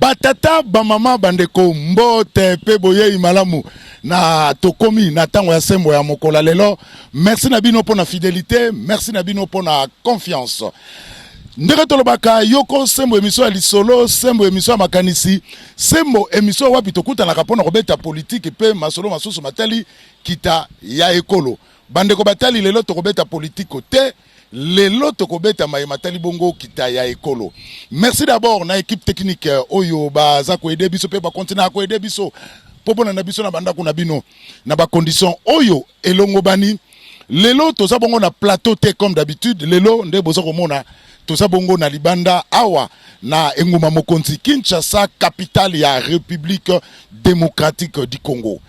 batata bamama bandeko mbote mpe boyei malamu na tokomi na ntango ya sembo ya mokola lelo merci na bino mpo na fidelité merci na bino mpo na confiance ndenge tolobaka yoko sembo emission ya lisolo sembo emission ya makanisi sembo emission wapi tokutanaka mpo na kobeta politiki mpe masolo masusu matali kita ya ekolo bandeko batali lelo tokobeta politiko te lelo tokobeta maye matali bongo kita ya ekolo merci d'abord na équipe technique euh, oyo baza koede biso mpe bakontina ya koede biso mpo mpona na biso na bandako na bino na bacondition oyo elongobani lelo toza bongo na plateau te comme d'habitude lelo nde boza komona toza bongo na libanda awa na engumba mokonzi kinshasa capitale ya république démocratique du congo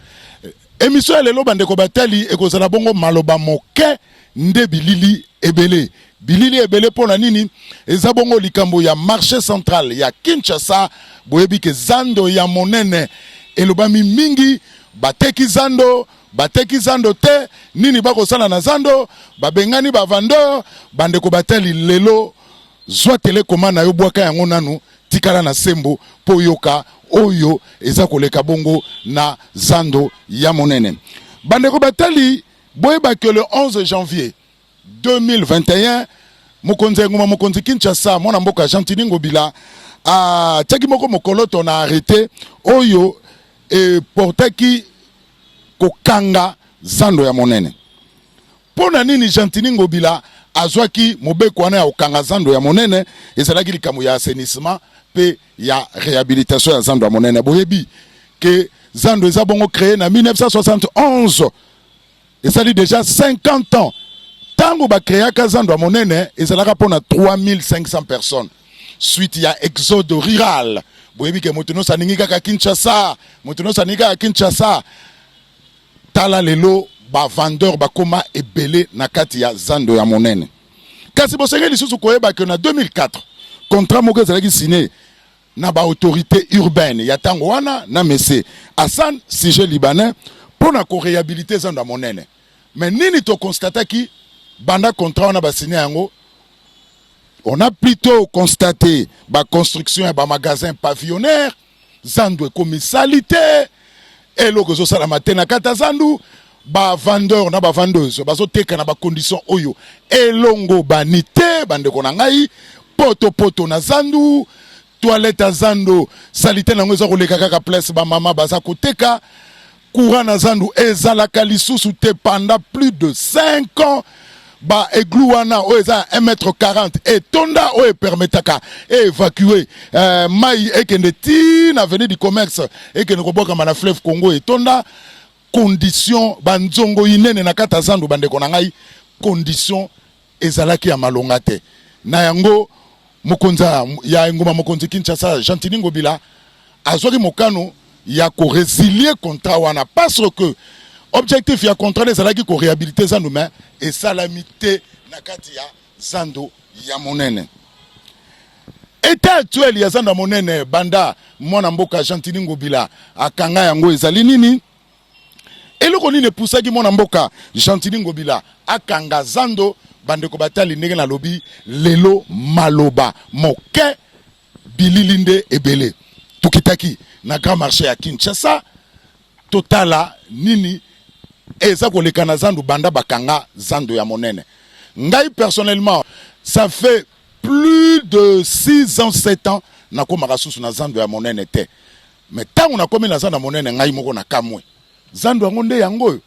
emission ya lelo bandeko batali ekozala bongo maloba moke nde bilili ebele bilili ebele mpo na nini eza bongo likambo ya marché central ya kinshasa boyebi ke zando ya monene elobami mingi bateki zando bateki zando te nini bakosala na zando babengani bavandeur bandeko batali lelo zwa telekoma na yo bwaka yango nanu tikala na sembo mpo yoka oyo eza koleka bongo na zando ya monene bandeko batali boyebaki le 11 janvier 2021 mokonzi ya engumba mokonzi Kinshasa mwana mboka Gentini Ngobila atiaki moko mokoloto na arrete oyo eportaki kokanga zando ya monene. Mpo na nini Gentini Ngobila azwaki mobeko wana ya kokanga zando ya monene? Ezalaki likambo ya assainissement mpe ya rehabilitation ya zando ya monene. Boyebi ke zando eza bongo cree na 1971 esali deja 50 ans ntango bakreaka zando ya monene ezalaka mpo na 3500 personnes suite ya exode rural boyebi ke moto nyonso alingi kaka kinshasa moto nyonso alingi kaka kinshasa tala lelo bavendeur bakoma ebele na kati ya zando ya monene kasi bosengeli lisusu koyeba ke na 2004 contrat moko ezalaki sine na ba autorites urbaines ya tango wana na Monsieur Hassan sujet libanais mpo na ko rehabiliter zando ya monene mais nini to constataki banda contrat wana ba signer yango on a plutôt constaté ba construction ya ba magasins pavillonnaires zando ekomi salite eloko ezosalama te na kati ya zandu bavandeur na bavandeuse bazoteka na bacondition oyo elongobani te bandeko na ngai potopoto na zandu toilette ya zando salite na yango eza koleka kaka place bamama baza koteka courant na zandu ezalaka lisusu te pendant plus de 5 ans ba eglou wana oyo eza ya 1 mètre 40 etonda oyo epermetaka eevacue euh, mai ekende ti na avenue du commerce ekende kobwakama na fleuve congo etonda condition banzongo inene na kati ya zando bandeko na ngai condition ezalaki ya malonga te na yango Mokonzi ya engumba mokonzi Kinshasa, Gentini Ngobila azwaki mokano ya ko resilier contrat wana parce que objectif ya contrat ezalaki ko rehabiliter zando mais esalami te na kati ya zando ya monene. Etat actuel ya zando ya monene banda mwana mboka Gentini Ngobila akanga yango ezali nini? Eloko nini epusaki mwana mboka Gentini Ngobila akanga zando? Bandeko batali ndenge nalobi lelo, maloba moke, bilili nde ebele. Tokitaki na grand marché ya Kinshasa totala nini eza koleka na zando banda bakanga zando ya monene. Ngai personnellement, ça fait plus de 6 ans 7 ans nakomaka susu na zando ya monene te. me ntango nakomi na zando monene ngai moko na kamwe zando yango nde yango oyo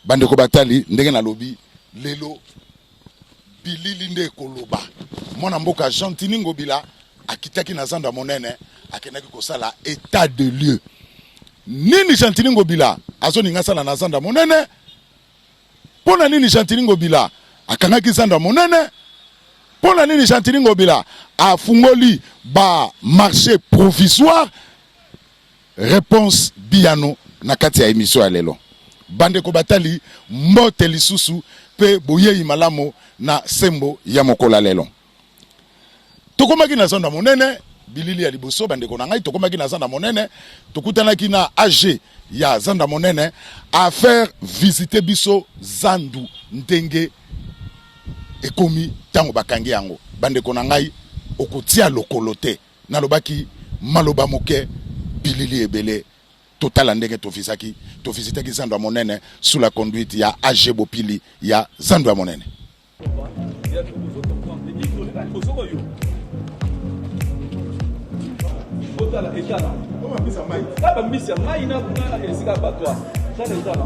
bandeko batali ndenge nalobi lelo bilili nde ekoloba mwana mboka gentini ngobila akitaki na zando ya monene akendaki kosala etat de lieu nini gentini ngobila azoninga asala na zando ya monene Mpo na nini Gentiny Ngobila akangaki zando ya monene? Mpo na nini Gentiny Ngobila afungoli ba marché provisoire? Reponse biyano na kati ya emission ya lelo. Bandeko batali mbote lisusu mpe boyei malamu na sembo ya mokolo ya lelo. tokomaki na zando ya monene bilili ya liboso bandeko na ngai tokomaki na zando ya monene tokutanaki na age ya zando ya monene afaire visite biso zandu ndenge ekomi ntango bakangi yango bandeko na ngai okotia lokolo te nalobaki maloba moke bilili ebele totala ndenge tofisaki tofisitaki zando ya monene sous la conduite ya age bopili ya zando ya monene botala etala na bambisi ya mai na kuna esika batwa tala etala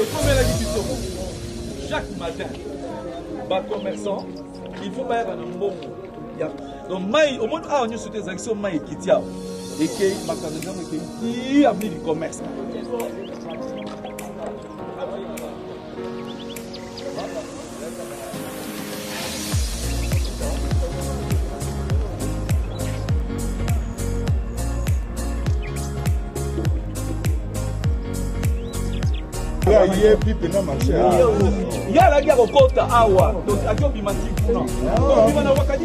ekomelaki biso chaque matin bacommerçant il faut bayaka na mbongo donc mai omoni awa nyonso te ezalaki so mai ekiti awa ekei makambo ntango ekei ti amini commerce ayebi mpena marché ye alaki ya kokota awa akobima ti kuna obima na wakati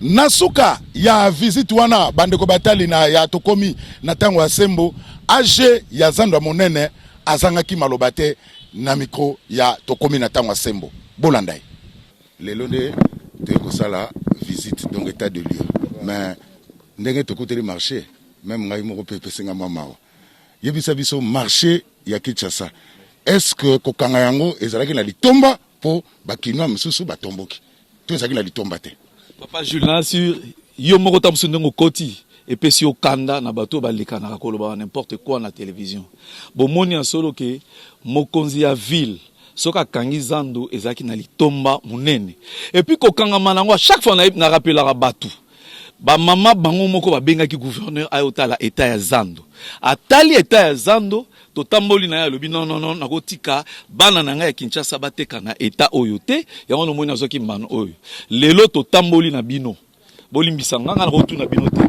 na suka ya visite wana bandeko batali na ya tokomi na ntango ya sembo age ya zando ya monene azangaki maloba te na mikro ya tokomi na ntango ya sembo bolanda ye lelo nde toyei kosala visite donc etat de lieu mais ndenge tokuteli marché meme ngai moko mpe epesinga mwa mawa Yebisa biso marche ya Kinshasa est-ce que kokanga yango ezalaki na litomba mpo bakinois mosusu batomboki to ezalaki na litomba te? Papa Jules na sur yo moko ta mosusu ndenge okoti epesi yo kanda na bato oyo balekanaka koloba n'importe quoi na television. Bomoni ya solo ke mokonzi ya ville soki akangi zando ezalaki na litomba monene epuis kokangama na yango a chaque fois na rappelaka bato Ba maman bango moko ba bengaki gouverneur ayo tala etat ya zando. Atali etat ya zando, totamboli naye alobi non non non nako tika bana na ngai ya Kinshasa ba teka na etat oyo te. Yango na moni nazwaki mbano oyo. Lelo totamboli na bino. Bolimbisa nga, nga nako tuna bino te.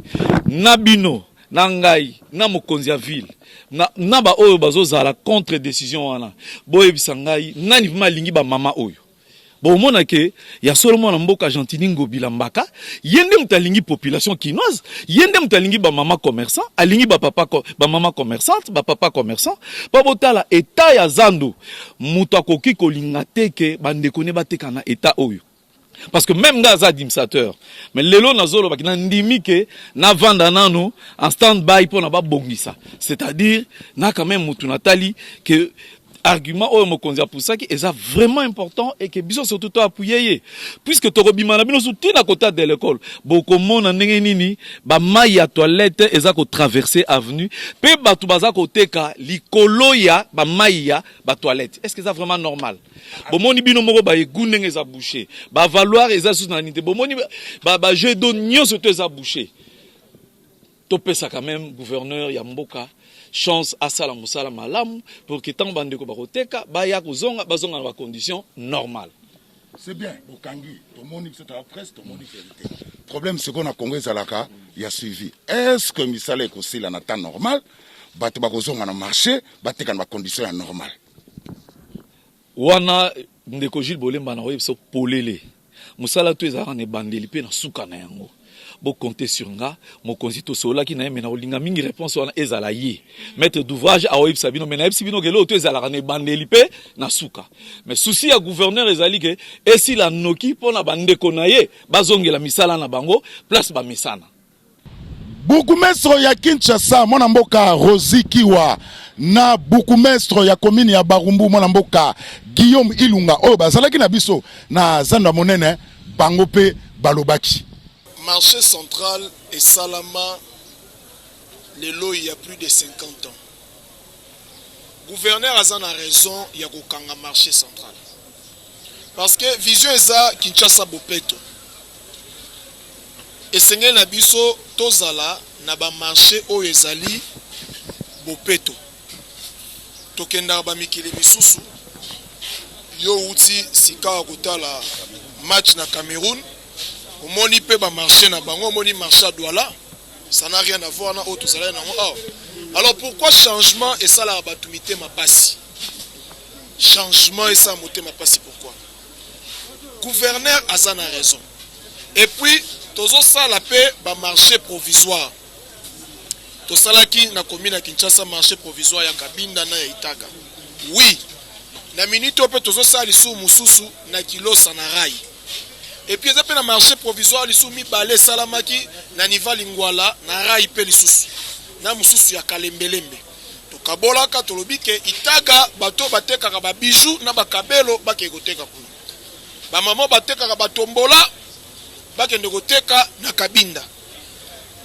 Na bino, na ngai, na mokonzi ya ville, na, na ba oyo bazo zala contre decision wana. Boyebisa ngai nani vraiment alingi ba maman oyo. bomona ke ya solo mwana mboka Gentini Ngobila Mbaka ye nde moto alingi population kinoise, ye nde moto alingi bamama commerçant, alingi bapapa bamama commerçante, bapapa commerçant mpo botala etat ya zando, moto akoki kolinga te ke bandeko ne bateka na etat oyo parce que meme nga aza administrateur mais lelo nazolobaki nandimi ke navanda nano en stand by mpo na babongisa c'est-à-dire na quand même motu natali ke argument oyo mokonzi apusaki eza vraiment important et que biso surtout to appuyer ye puisque tokobima na bino su tina kota de l'école bokomona ndenge nini ba mayi ya toilette eza ko traverser avenue pe bato baza koteka likolo ya ba mayi ya ba toilette est-ce que eza vraiment normal bomoni bino moko ba egu ndenge eza boucher ba valoir eza susu na nite bomoni ba, ba, ba jeu d'eau nyonso to eza boucher To pesa quand meme gouverneur ya mboka chance asala musala malamu pour que tango bandeko bakoteka baya kozonga bazonga na ba conditions normales. C'est bien, bokangi, tomoni biso ta presse, tomoni verité. Problème sikoyo na Congo ezalaka ya suivi. Est-ce que misala ekosila na temps normal? Bato bakozonga na marché, bateka na ba conditions ya normale. Wana Ndeko Jules Bolemba na oyebisa polele musala to ezalaka na ebandeli pe na suka na yango bo compter sur nga mokonzi tosololaki na ye me nakolinga mingi réponse wana ezala ye maître d'ouvrage aoyebisa bino me nayebisi bino keloo to ezalaka na ebandeli mpe na suka me susi ya gouverneur ezali ke esila noki mpo na bandeko na ye bazongela misala na bango place bamesana Bourgmestre ya Kinshasa mwana mboka Rosi Kiwa na bourgmestre ya commune ya Barumbu mwana mboka Guillaume Ilunga oyo bazalaki na biso na zando ya monene bango mpe balobaki marché central esalama lelo ya plus de 50 ans Gouverneur aza na raison ya kokanga marche central parce que vision eza Kinshasa bopeto esengeli na biso tozala na bamarche oyo ezali bopeto tokendaka bamikili misusu yo outi sikawa kotala match na cameroun omoni mpe bamarche na bango omoni marche ya douala ça n'a rien à voir na oyo tozalaki nango awa alors pourquoi changement esalaka bato mitema mpasi changement esala motema mpasi pourquoi gouverneur aza na raison et puis tozosala mpe bamarché provisoire tosalaki na commune ya kinshasa marché provisoire ya kabinda na ya itaka oui na minute oyo mpe tozosala lisusu mosusu na kilosa na rai et puis eza mpe na marché provisoire lisusu mibale esalamaki na niva lingwala na rai mpe lisusu na mosusu ya kalembelembe tokabolaka tolobi ke itaga bato batekaka babiju na bakabelo bakei koteka kuna bamama batekaka batombola bakende koteka na kabinda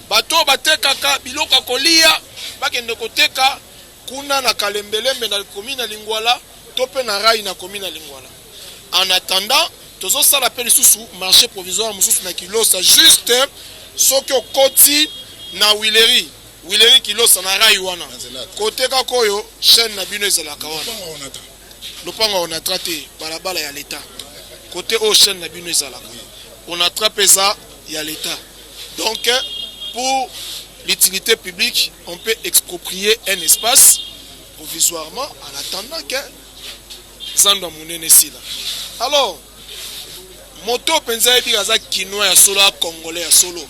bato batekaka biloko ya kolia bakende koteka kuna na kalembelembe na commune ya Lingwala to pe na rail na commune ya Lingwala. En attendant, tozosala pe lisusu marché provisoire mosusu na Kilosa, juste soki okoti na Huilerie Huilerie Kilosa na rail wana kote kaka oyo chaîne na bino ezalaka wana. lopango ya onatra te balabala ya leta kote oyo chaine na bino ezalaka onatra mpe eza ya leta donc pour l'utilité publique on peut exproprier un espace provisoirement en attendant que zando ya monene esila alors moto oyo mpenza ayebi aza kinois ya solo a congolais ya solo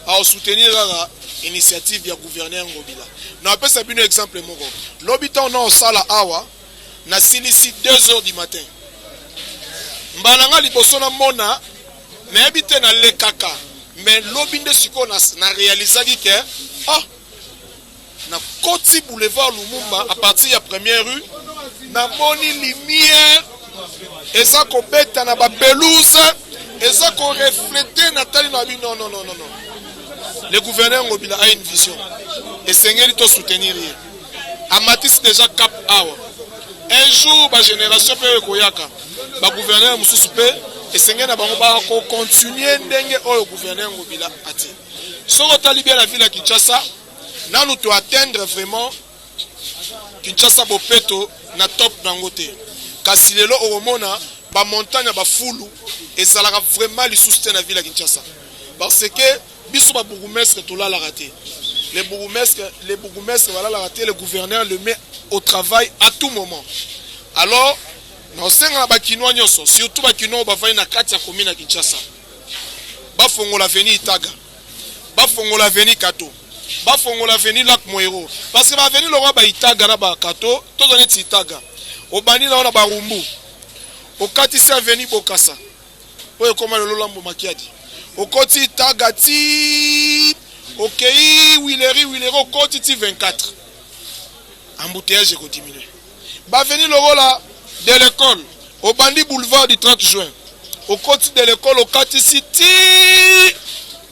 aosoutenir kaka initiative ya gouverneur ngobila napesa bino exemple moko lobi ntango naosala awa nasilisi 2 heures du matin mbala nga liboso namona nayebi te nalekaka mais lobi nde sikoyo na realisaki ke ah Na koti boulevard Lumumba à partir ya première rue, na moni lumière eza ko beta na ba pelouse, eza ko refleter na tali na bi non non non non non. Le gouverneur Ngobila a une vision. Et Sengeli to soutenir ye. Amatis déjà cap awa. Un jour ba génération pe ekoyaka. Ba gouverneur mususu pe esengeli na bango ba ko continuer ndenge oyo gouverneur Ngobila ati. Soko tali bien la ville ya Kinshasa, nanu to atteindre vraiment Kinshasa Bopeto na top nango te kasi lelo okomona ba montagne ya bafulu ezalaka vraiment lisusu te na ville ya Kinshasa parce que biso ba bourgmestre tolalaka te le bourgmestre le bourgmestre balalaka te le gouverneur le met au travail à tout moment alors naosenga na bakinois nyonso surtout bakinois oyo bafandi na kati ya commune ya Kinshasa bafongola veni itaga bafongola avenue kato bafongola avenue lac moero parce que ba avenue lokola ba itaga na ba kato toza neti itaga obandi na wana barumbu okatisi avenue bokasa oyo ekoma lelo lambo makiadi okoti itaga ti okei wileri wileri okoti ti 24 embouteillage ekodiminue Ba avenues lokola de l'ecole, obandi boulevard du 30 juin, okoti de l'ecole, okatisi tii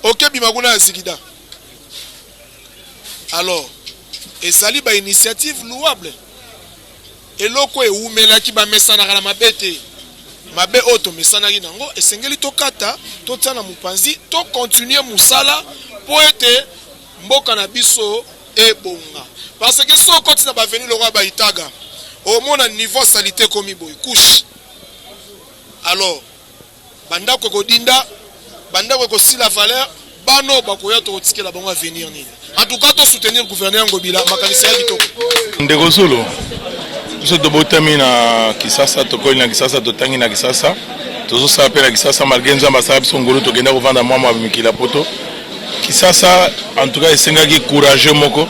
okebima kuna ya Zigida. Alors, ezali ba initiative louable. Eloko ewumelaki bamesanaka na mabe te. mabe oyo tomesanaki nango esengeli tokata totia na mopanzi tokontinue mosala mpo ete mboka na biso ebonga parce que so okoti na baveni lokola baitaga omona niveau salite ekomi boye couche alors bandako ekodinda bandako ekosila valeur bana oyo bakoya tokotikela bango avenir nini en tout cas tosoutenir gouverneur ngobila makanisi ya kitoko ndeko zulu biso tobotami na kisasa tokoli na kisasa totangi na kisasa tozosala mpe na kisasa malgre nzambe asala biso ngolu tokenda kovanda mwa mwa mikili ya poto Kisasa en tout cas esengaki courageux moko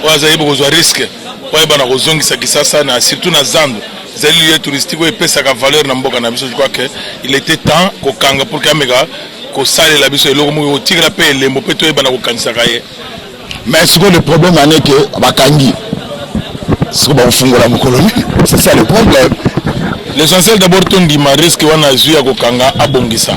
oyo azali bokozwa risque oyo ayeba na kozongisa Kisasa na surtout na zando ezali lieu touristique oyo epesaka valeur na mboka na biso je crois que il était temps kokanga pour que ameka kosalela biso eloko moko kotikela mpe elembo mpe toyeba na kokanisaka ye mais sikoyo le problème aneke bakangi soko bakofungola mokolo nini c'est ça le problème l'essentiel d'abord tondima risque wana azwi ya kokanga abongisa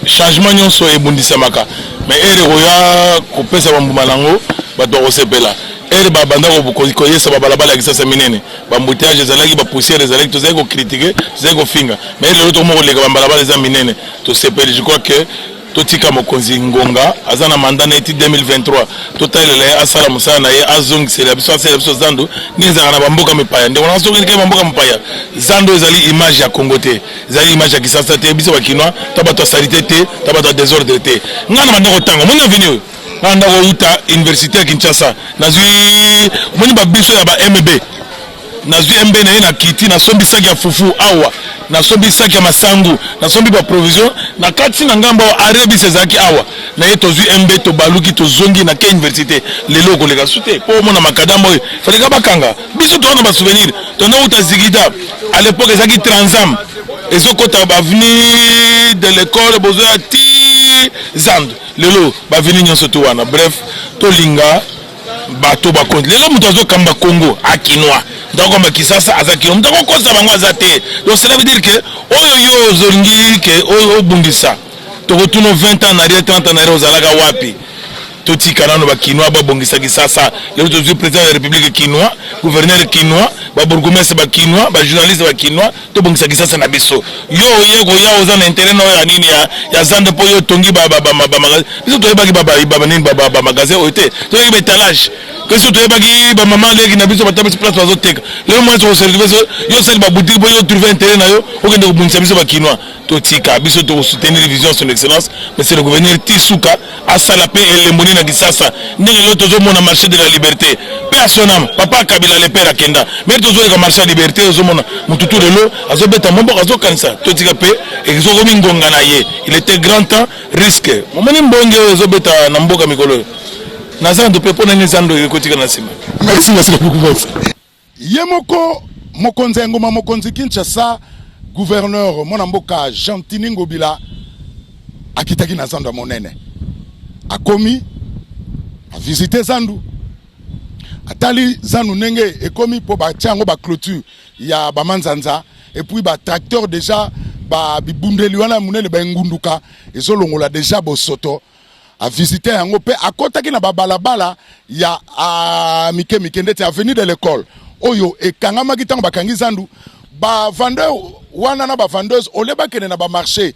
changement nyonso ebundisamaka mais ere ekoya kopesa bambuma nango bato bakosepela ere babanda koyesa babalabala ya kisasa minene bambuteyage ezalaki bapoussière ezalaki tozalaki kokritike tozalaki kofinga mais ere lelo tokomoko koleka bambalabala eza minene tosepeli je crois que totika mokonzi ngonga aza na manda na ye ti 2023 totalela ye asala mosala na ye azongisela biso asala biso zando nini ezalaka na bamboka mipaya ndeko na soki ndike bamboka mopaya zando ezali image ya congo te ezali image ya kisasa te biso bakinois ta bato ya salite te ta bato ya desordre te ngai na banda kotanga omoni aveni oyo ngai nda kouta université ya kinshasa nazwi omoni babiso ya ba mb nazwi embe na ye na kiti nasombi saki ya fufu awa nasombi saki ya masangu nasombi baprovision na kati na ngambo awa arebis ezalaki awa na ye tozwi embe tobaluki tozongi na ke université lelo okoleka su te mpo omona makadama oyo faleka bakanga biso towana basouvenir tona uta zigida à l'époque ezalaki transam ezokota baveni de l'école bozoya ti zande lelo baveni nyonso to wana bref tolinga bato bakonzi lelo moto azokamba congo akinois moto akokamba kisasa aza kino moto akokosa bango aza te donc cela veut dire que oyo yo ozolingi ke obundisa tokotuna 20 ans narie 30 ans narie ozalaka wapi totika nano bakinois babongisa kisasa lelo tozwi président ya république kinois gouverneur kinois babourgoumestre bakinois bajournaliste bakinois tobongisa kisasa na biso yo oye koya oza na interet nayo ya nini ya zando mpo yo otongi bamagasin biso toyebaki nini bamagasin oyo te toyebaki baetalage biso toyebaki bamama leki na biso batabisi place bazoteka lelo mwasi okoserve biso yo osali babutiki mpo yo otrouve interet na yo okende kobundisa biso bakinois totika biso toko soutenir vision son excellence monsieur le gouverneur ti suka asala mpe elembo nini na kisasa ndenge lelo tozomona marché de la liberté mpe asonama papa kabila le père akenda mpe tozoleka marché ya liberté ozomona motu tu lelo azobeta moboko azokanisa totika mpe ezokomi ngonga na ye il était grand temps risque momoni mbonge oyo ezobeta na mboka mikolo oyo na zando mpe mpo na nini zando ekotika na nsima merci merci beaucoup Ye moko mokonzi ya engumba mokonzi Kinshasa, gouverneur mwana mboka Gentini Ngobila akitaki na zando ya monene, akomi avisite zandu, atali zandu ndenge ekomi mpo batia yango baclôture ya bamanzanza epuis batracteur deja ba bibundeli wana ya monene baengunduka ezolongola deja bosoto avisita yango mpe akotaki na babalabala ya ah, mike mike ndeti avenue de l'école oyo ekangamaki ntango bakangi zandu bavandeur wana na bavendeuse ole bakende na bamarché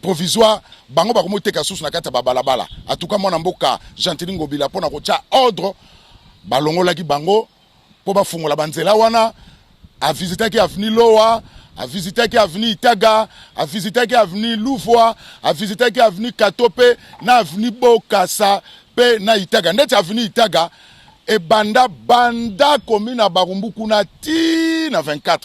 provisoire bango bakomoteka susu na kati ya babalabala atuka mwana mboka gentili ngobila mpo na kotya ordre balongolaki bango mpo bafungola banzela wana. Avizitaki aveni Lowa, avizitaki aveni Itaga, avizitaki aveni Luvua, avizitaki aveni Katope na aveni Bokasa mpe na Itaga. Ndeti aveni Itaga ebanda banda komi na Barumbu kuna ti na 24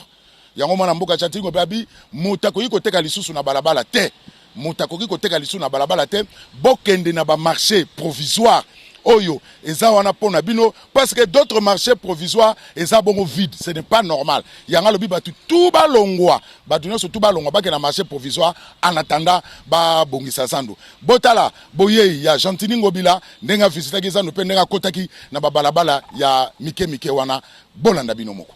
yango mwana mboka chatingo mpe abi moto akoki koteka lisusu na balabala te moto akoki koteka lisusu na balabala te bokende na bamarché provisoire oyo eza wana mpo na bino parce que d'autres marchés provisoires eza bongo vide ce n'est pas normal yango alobi bato tu balongwa bato nyonso tu balongwa bake na marché provisoire en attendant babongisa zando botala boyei ya gentini ngobila ndenge avisitaki zando mpe ndenge akotaki na babalabala ya mike mike wana bolanda bino moko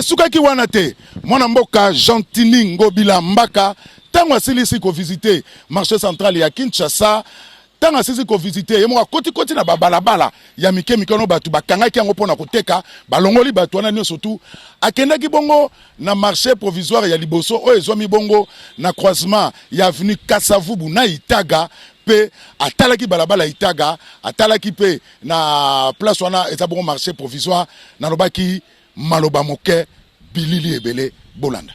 esukaki wana te mwana mboka gentini ngobila mbaka ntango asilisi kovizite marché central ya kinshasa ntango asisi kovizite ye moko akotikoti na babalabala ya mike mike wana bato bakangaki yango mpo na koteka balongoli bato wana nyonso tu akendaki bongo na marché provisoire ya liboso oyo ezwami bongo na croisement ya avenue kasavubu na itaga mpe atalaki balabala itaga atalaki mpe na place wana eza bongo marché provisoire nalobaki maloba moke bilili ebele bolanda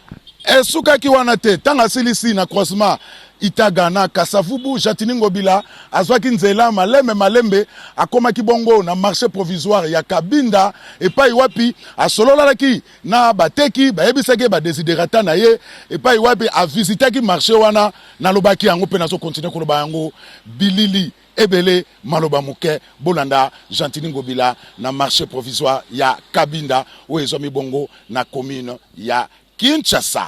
esukaki wana te ntango asilisi na croisement itaga na kasavubu jatini ngobila azwaki nzela malembe malembe akomaki bongo na marché provisoire ya kabinda epai wapi asololalaki na bateki bayebisaki ye badesiderata na ye epai wapi avisitaki marché wana nalobaki yango mpe nazokontinue koloba yango bilili Ebele maloba moke, bolanda Gentiny Ngobila na marche provisoire ya Kabinda oyo ezwami bongo na commune ya Kinshasa.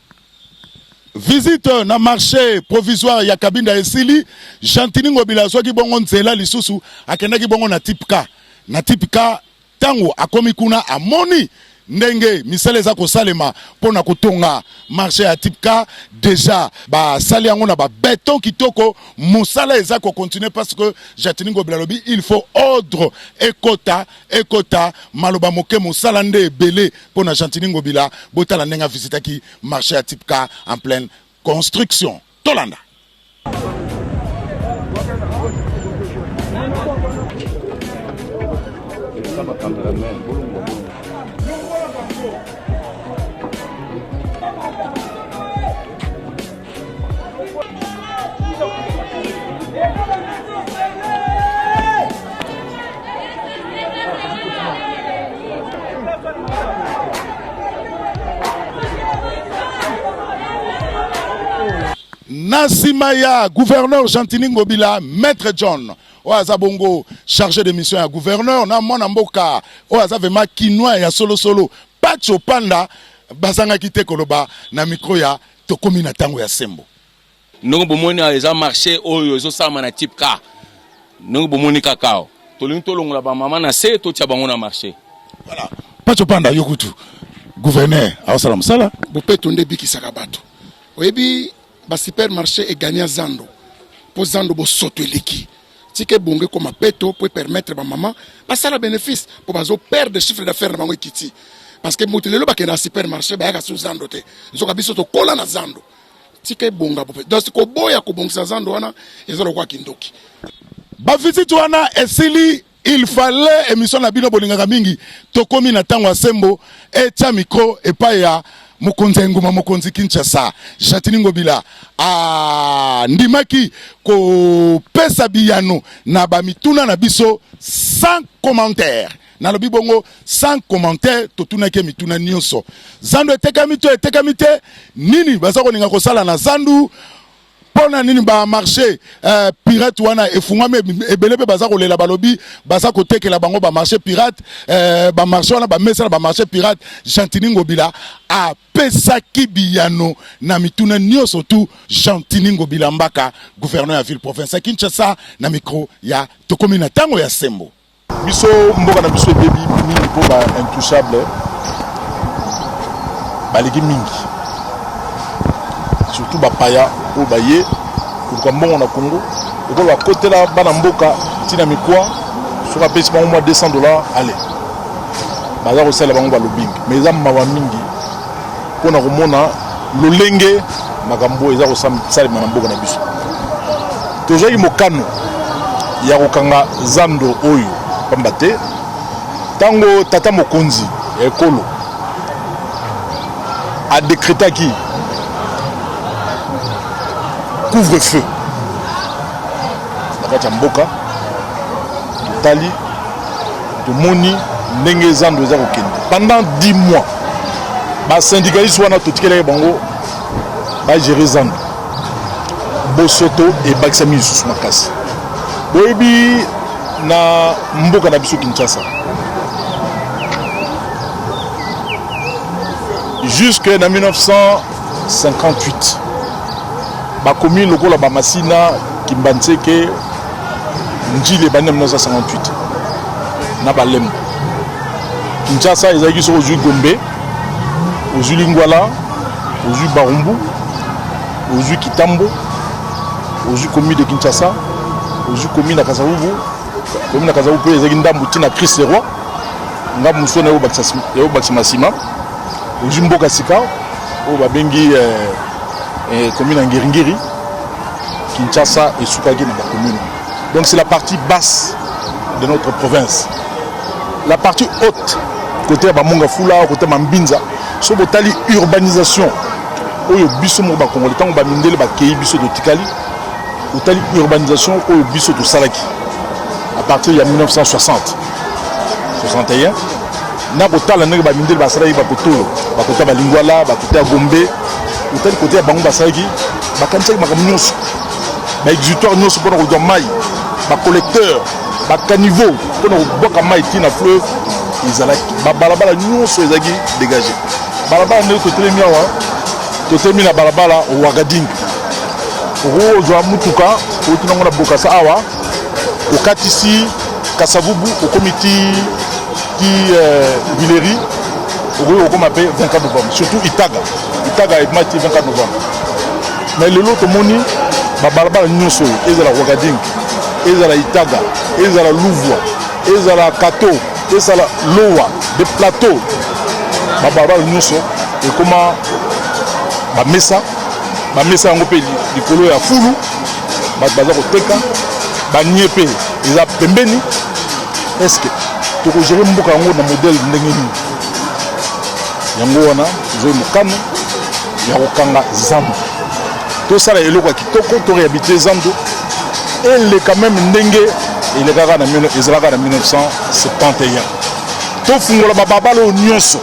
Visite na marché provisoire ya Kabinda esili, Gentini Ngobila azwaki bongo nzela lisusu akendaki bongo na type K. Na type K ntango akomi kuna amoni ndenge misala eza kosalema mpo na kotonga marché ya type K deja basali yango na babeton kitoko, mosala eza kokontinue parce que Gentini Ngobila alobi il faut ordre ekota ekota, maloba moke mosala nde ebele mpo na Gentini Ngobila. Botala ndenge a visitaki marché ya Tipka en pleine construction. Tolanda. na nsima ya gouverneur gentini ngobila maître john oyo aza bongo chargé de mission ya gouverneur na mwana mboka oyo aza vraiment kinois ya solosolo pacho panda bazangaki te koloba na mikro ya tokomi na tango ya sembo ndenge bomoni awa eza marché oyo ezosalama na type ka ndenge bomoni kaka awa tolingi tolongola bamama na se totya bango na marché voilà paco panda yo kutu gouverneur aosala mosala bopeto nde ebikisaka bato oyebi basupermarché egania zando mpo zando bosoto eleki tika ebongo ekoma peto mpo epermettre bamama basala bénéfice mpo bazo perdre chiffre d'affaire na bango ekiti parce que moto lelo bakenda na supermarché bayaka su zando te nzoka biso tokola na zando tika ebonga bope donc koboya kobongisa zando wana eza lokola kindoki bavisite wana esili il fallait émission na bino bolingaka mingi tokomi na ntango ya sembo etya mikro epai ya mokonzi ya engumba mokonzi kinshasa jatini ngobila andimaki kopesa biyano na bamituna na biso sans commentaire nalobi bongo sans commentaire totunaki ye mituna nyonso zandu etekami to etekami te nini baza kolinga kosala na zandu mpo na nini bamarché eh, pirate wana efungwami ebele mpe baza kolela balobi baza kotekela bango bamarché pirate eh, bamarché wana bamesana bamarché pirate gentini ngobila apesaki biyano na mituna nyonso tu gentini ngobila mbaka gouverneur ya ville province ya kinshasa na micro ya tokomi na ntango ya sembo Biso mboka na biso ebebi mingi mpo ba intouchable baleki mingi surtout bapaya oyo baye koluka mbongo na congo lokola bakotela bana mboka ntina mikwa soki apesi bango mwa 200 dollar ale baza kosalela bango balobingi mais eza mawa mingi mpo na komona lolenge makambo oyo eza kosalema na mboka na biso tozwaki mokano ya kokanga zando oyo mpamba te ntango tata mokonzi ya ekolo adekretaki couvre feu na kati ya mboka totali tomoni ndenge zando eza kokende pendant 10 mois basyndicaliste wana totikelaki bango bagere zando bosoto ebakisami lisusu makasi boyebi na mboka na biso kinshasa jusque na 1958 bakomi lokola bamasina kimbanseke njili ebandi na 1958 na balemba kinshasa ezalaki soki ozwi gombe ozwi lingwala ozwi barumbu ozwi kitambo ozwi komi de kinshasa ozwi komi na kasavubu komi na kasavubu mpe ezalaki ndambo ti na christ leroi ngambo mosusu wana ekobakisama nsima ozwi mboka sika oyo babengi eh, eh, komi na ngiringiri Kinshasa esukaki na bakomune donc c'est la partie basse de notre province la partie haute côté ya bamonga fula côté ya mambinza so botali urbanisation oyo biso moko bakongoli ntango bamindele bakei biso totikali otali urbanisation oyo biso tosalaki à partir ya 1960 61 na kotala ndenge bamindele basalaki bakotolo bakota balingwala bakota ya gombe otali kote ya bango basalaki bakanisaki makambo nyonso baexutoire nyonso mpona kozwa mai bacollecteur bacaniveau mpona kobwaka mai ti na fleuve ezalaki babalabala nyonso ezalaki dégage balabala ndenge totelemi awa totelemi na balabala wagading okozwa motuka outi nango na bokasa awa okatisi Kasavubu okomi ti ti Guileri euh, okoki kokoma mpe 24 novembre surtout Itaga Itaga ebima ti 24 novembre mais lelo tomoni babalabala nyonso oyo ezala Ouagading ezala Itaga ezala Louvua ezala Kato ezala Lowa de plateau babalabala nyonso ekoma bamesa bamesa yango mpe likolo ya fulu bato baza koteka banie mpe eza pembeni est ce que tokogere mboka yango na modele ndenge nini yango wana ezoi mokano ya kokanga zando tosala eloko ya kitoko to réhabilite zando eleka meme ndenge elekaka na ezalaka na 1971 tofungola bababala oyo nyonso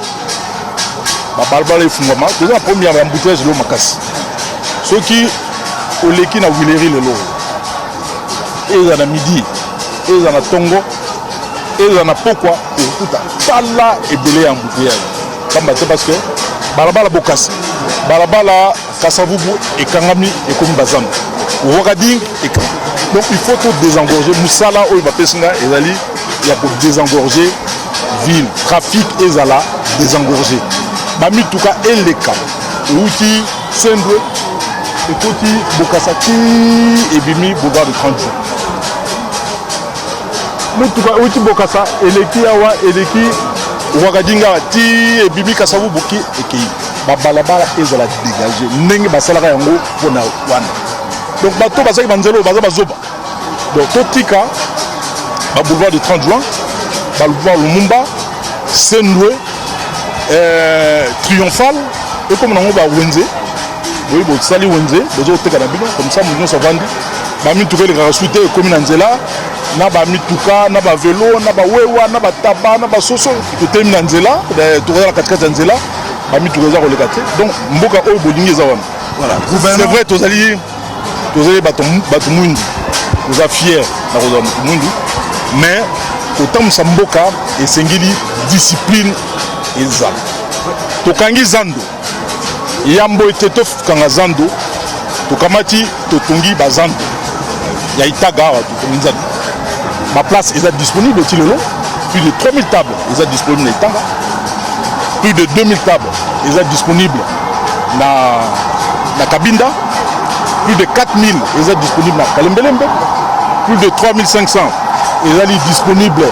babalabala efungwama toza na problème ya embouteillage lelo makasi soki oleki na wileri lelo eza na midi eza na tongo eza na pokwa okuta tala ebele ya embouteillage pamba te parce que balabala bokasi balabala kasavubu ekangami ekomi bazando wakading ekangami donc il faut to désengorger mosala oyo bapesi nga ezali ya ko désengorger ville trafic ezala désengorger bamituka eleka euti Sendwe ekoti bokasa ti ebimi boulevard de 30 jours. Motuka euti bokasa eleki awa eleki wakadinga ti ebimi kasavu boki ekei babalabala ezala dégage ndenge basalaka yango mpona wana donc bato bazalaki banzela oyo baza bazoba Donc totika ba boulevard de 30 juin, ba boulevard Lumumba, Sendwe, euh, Triomphal, et comme nango ba Wenze, oui bo sali Wenze, bozo teka na bino comme ça mutu nyonso avandi. Ba mituka elekaka su te ekomi na nzela na ba mituka na ba velo na ba wewa na ba taba na ba soso totelemi na nzela eh, tokozala katikati ya nzela ba mituka eza koleka te donc mboka oyo bolingi eza wana voilà. c'est vrai tozali tozali bato bato mwindu toza fier na kozala moto mwindu mais kotambwisa mboka esengeli discipline ezala tokangi zando yambo ete tokanga zando tokamati totongi bazando ya itaga awa Nzambe. Ba place eza disponible ti lelo plus de 3000 tables eza disponible na Itanga. Plus de 2000 tables eza disponible na na Kabinda. Plus de 4000 eza disponible na Kalembelembe. Plus de 3500 ezali disponible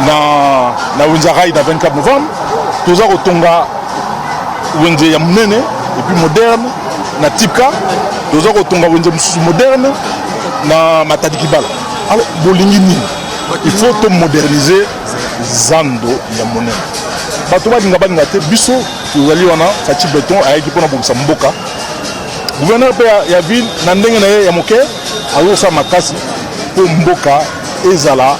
na na Wenzarai na 24 novembre. Toza kotonga wenze ya munene et puis moderne na Tipka toza kotonga wenze mosusu moderne na matadi kibala alo bolingi nini il faut to moderniser zando ya monene bato balinga balinga te biso tozali wana faci beton ayaki mpona bobisa mboka gouverneur mpe ya ville na ndenge na ye ya moke azosala makasi mpo mboka ezala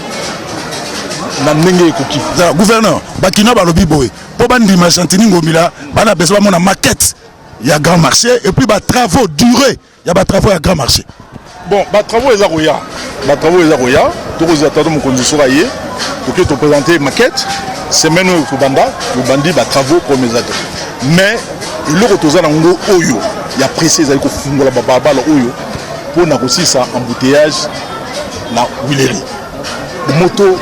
na ndenge ekoki gouverneur bakina balobi boye mpo bandima gentini ngomila bana bezo bamona maquette ya grand marché et puis ba travaux durés ya ba travaux ya grand marché bon ba travaux eza koya ba travaux eza koya tokozwa tato mokonzi soki aye toke topresente maquette semaine oyo kobanda tobandi ba travaux problème eza te mais eloko toza na ngo oyo ya presse ezali kofungola babalabala oyo mpo na kosisa embouteillage na wileri moto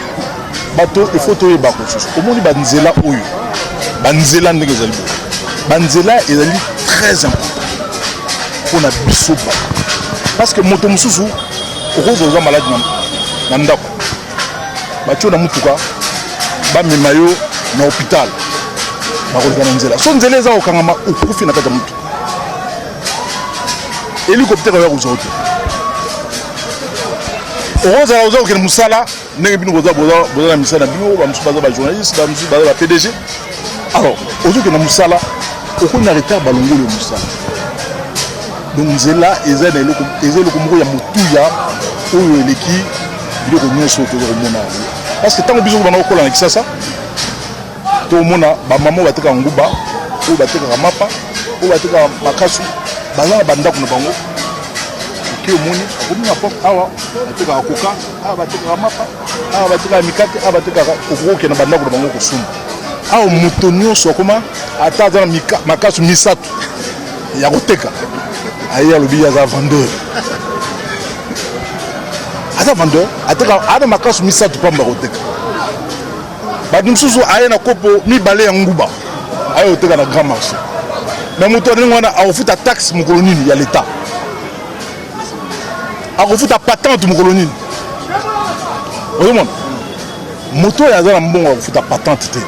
bato il faut toyeba ko susu omoni banzela oyo banzela ndenge ezali boye banzela ezali très important mpo na biso ba parce que moto mosusu okoki koza maladi na ndako batio na motuka bamema yo na hôpital bakoleka na nzela so nzela eza kokangama okufi na kati ya motuka helicoptère oya kozwa te okozala oza kokende mosala ndenge bino boza na misala na bino bamosusu baza bajournaliste bamosusu baza bapdg alors ozokende mosala okomi na retard balongoli ya mosala donc nzela eza na eloko eza eloko moko ya motuya oyo eleki biloko nyonso oyo toza komona yango parce que ntango biso kobanda kokola na kisasa To mona ba maman bateka nguba, oyo batekaka mapa, oyo batekaka makasu, baza na ba ndako na bango. Oke omoni akomi na porte awa batekaka koka, awa batekaka mapa, awa batekaka mikate, awa batekaka okoke na ba ndako na bango kosumba. Awa moto nyonso akoma ata aza na makasu misato ya koteka aye alobi ye aza vendeur aza vendeur ateka ana makasu misato pamba koteka bato mosusu aye na kopo mibale ya nguba aye koteka na grand marché me moto ya ndenge wana akofuta taxe mokolo nini ya leta akofuta patente mokolo nini ozomona moto oyo aza na mbongo akofuta patente te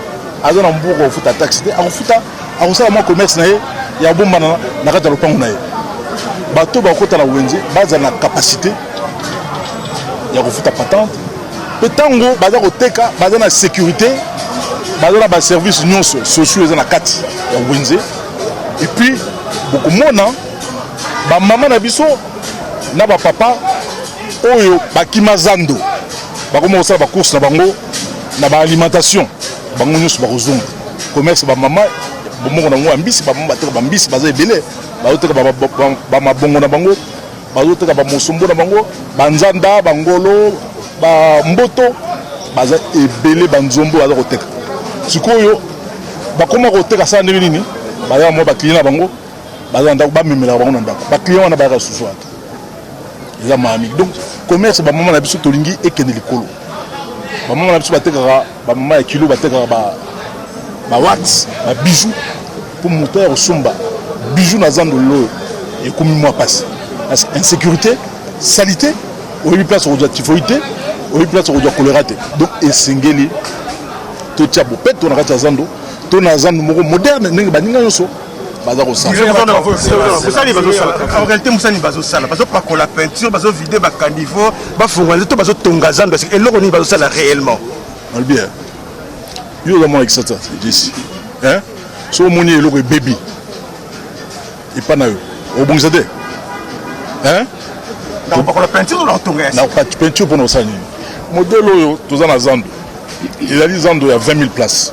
aza na mbongo akofuta taxe te akofuta akosala mwa commerce na ye ya bombana na kati ya lopango na ye bato bakota na wenze bazala na capacité ya kofuta patente mpe ntango baza koteka baza na sécurité baza na baservice nyonso sociaux eza na kati ya wenze epuis bokomona bamama na biso na bapapa oyo bakima zando bakoma kosala bacourse na bango na baalimentation bango nyonso bakozonga commerce bamama bomoko na bango ya mbisi bamama bateka bambisi baza ebele bazoteka bamabongo na bango bazoteka bamosombo na bango banzanda bangolo bamboto baza ebele banzombo baza koteka sikoyo bakoma koteka sala ndenge nini baza mwa bakliye na bango baza na ndako bamemelaka bango na ndako bakliye wana bayaka susu ata eza maami donc commerce bamama na biso tolingi ekende likolo bamama na biso batekaka Ba mama ya kilo batekaka ba ba wax, ba bijoux pour moto ya kosomba bijoux na zando lelo ekomi mwa pasi. Parce que insécurité, salite, oyebi place okozwa typhoïde te, oyebi place okozwa choléra te. Donc esengeli totia bopeto na kati ya zando, to na zando moko moderne ndenge baninga nyonso baza kosalabosani bazosala en réalité mosani bazosala bazopakola peinture bazovide bacaniveau bafungola nde to bazotonga zando ya sika eloko nini bazosala réellement alobi eh, yo oza mwana kisasa jesi eh, so omoni eloko ebebi epa na yo obongisa te eh? nakopakola peinture na kotonga ya peinture mpona kosala nini modele oyo toza na zando ezali zando ya 20 000 place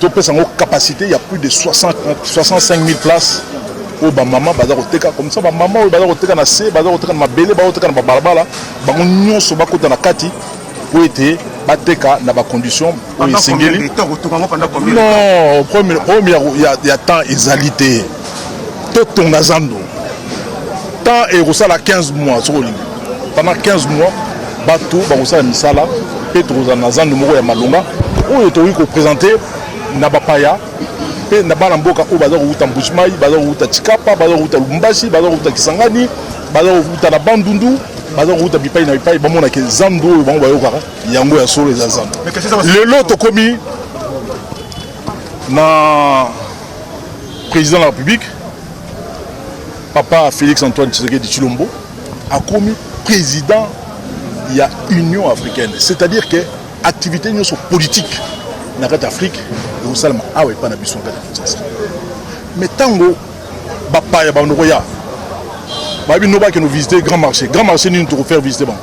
topesa yango capacité ya plus de 60, 65 000 places oyo bamama baza koteka komisa bamama oyo baza koteka na se baza koteka na mabele baza koteka na babalabala bango nyonso bakota na kati mpo ete bateka na bacondition oyo esengeli non problème ya temps ezali te totonga zando temps ekosala 15 mois soki olingi pendant 15 mois bato bakosala misala mpe tokozala na zando moko ya malonga oyo tokoki kopresente na bapaya mpe na bana mboka oyo baza kowuta mbujimai baza kowuta chikapa baza kowuta lubumbashi baza kowuta kisangani baza kowuta na bandundu baza kowuta bipai na bipai bamonake zando oyo bango bayokaka yango ya solo eza zando lelo tokomi na président de la république papa félix antoine tshisekedi tshilombo akomi président ya union africaine c'est-à-dire que activité nyonso politique na kati ya afrique ekosalama awa epai na biso na kati ya kinshasa mais ntango bapaya bando koya bayebi no bakende visite grand marché grand marché nini tokofaire visite bango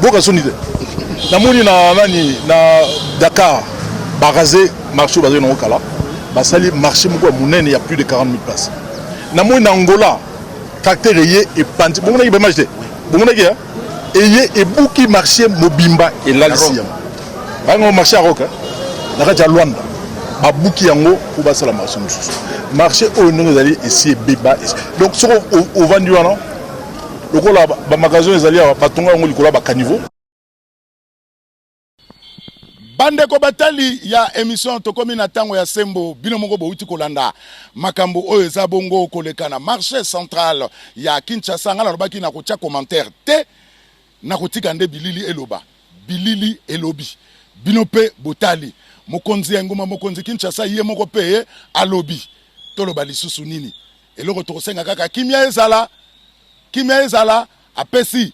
boka soni te namoni na nani na dakar barase marché oyo bazali nango kala basali marché moko ya monene ya plus de 40 000 place namoni na angola tracteur eye epanzi bomonaki baimage te bomonaki eye ebuki marche mobimba elalisi yango bayango marche ya roka eh? na kati ya lwanda babuki yango mpo basala marche mosusu marche oyo ndenge ezali esi ebeba donc soko ovandi wana lokola bamagasin ezali awa batonga yango likolo ya bacaniveau Bandeko batali ya emission tokomi na tango ya sembo bino moko bowuti kolanda makambo oyo eza bongo koleka na marche central ya Kinshasa nga nalobaki na kotia commentaire te na kotika nde bilili eloba bilili elobi bino pe botali mokonzi ya engumba mokonzi Kinshasa ye moko pe alobi toloba lisusu nini eloko tokosenga kaka kimia ezala kimia ezala apesi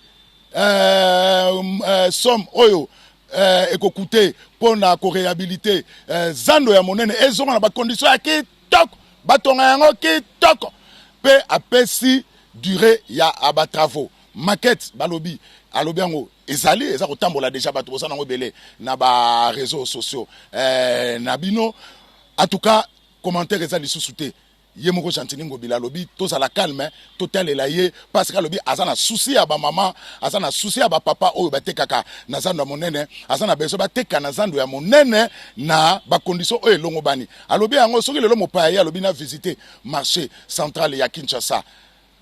euh, euh, somme oyo euh, ekokute mpo na korehabilite euh, zando ya monene ezonga na bakondition ya kitoko batonga yango kitoko mpe apesi durée ya batravaux maquette balobi alobi yango ezali eza kotambola deja bato boza nango ebele na bareseau sociaux eh, na bino en tout cas commentaire eza lisusu te ye moko gentini ngobila alobi tozala calme totalela ye parce que alobi aza na souci ya bamama aza na souci ya bapapa oyo batekaka na zando ya monene aza na besoin bateka na zando ya monene na bacondition oyo elongobani alobi yango soki lelo mopaya ye alobi na visite marché central ya kinshasa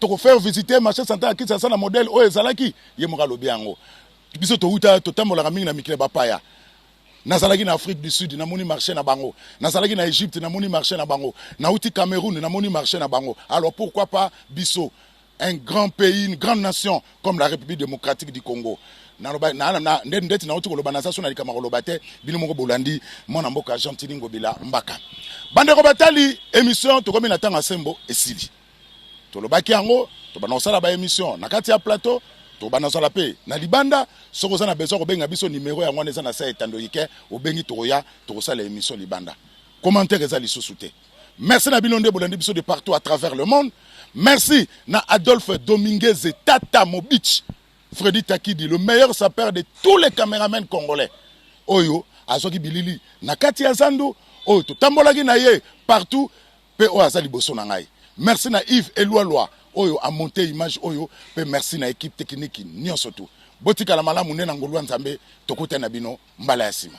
tokofaire visite marché central ya kinshasa na modèle oyo ezalaki ye moko alobi yango biso towuta totambolaka mingi na mikili ya bapaya nazalaki na afrique du sud namoni marché na bango nazalaki na egypte namoni marché na bango nauti cameroun namoni marché na bango alors pourquoi pas biso un grand pays une grande nation comme la république démocratique du congo naloba na, na, nde ndeti nauti koloba naza so na likambo koloba te bino moko bolandi mwana mboka gentini ngobila mbaka bandeko batali émission tokomi na ntango ya sembo esili tolobaki yango tobanda kosala ba emission na kati ya plateau tobanda kosala mpe na libanda soki oza na besoin kobenga biso nimero yango wana eza na sa etando ike obengi tokoya tokosala emission libanda commentaire eza lisusu te merci na bino nde bolandi biso de partout à travers le monde merci na adolphe dominguez tata mobich fredi takidi le meilleur sapeur de tous les caméramen congolais oyo azwaki bilili na kati ya zando oyo totambolaki na ye partout pe oyo aza liboso na ngai merci na Yves Elualua oyo a monte image oyo pe merci na equipe technique nionso tout botikala malamu nde na ngolu ya Nzambe tokutani na bino mbala ya sima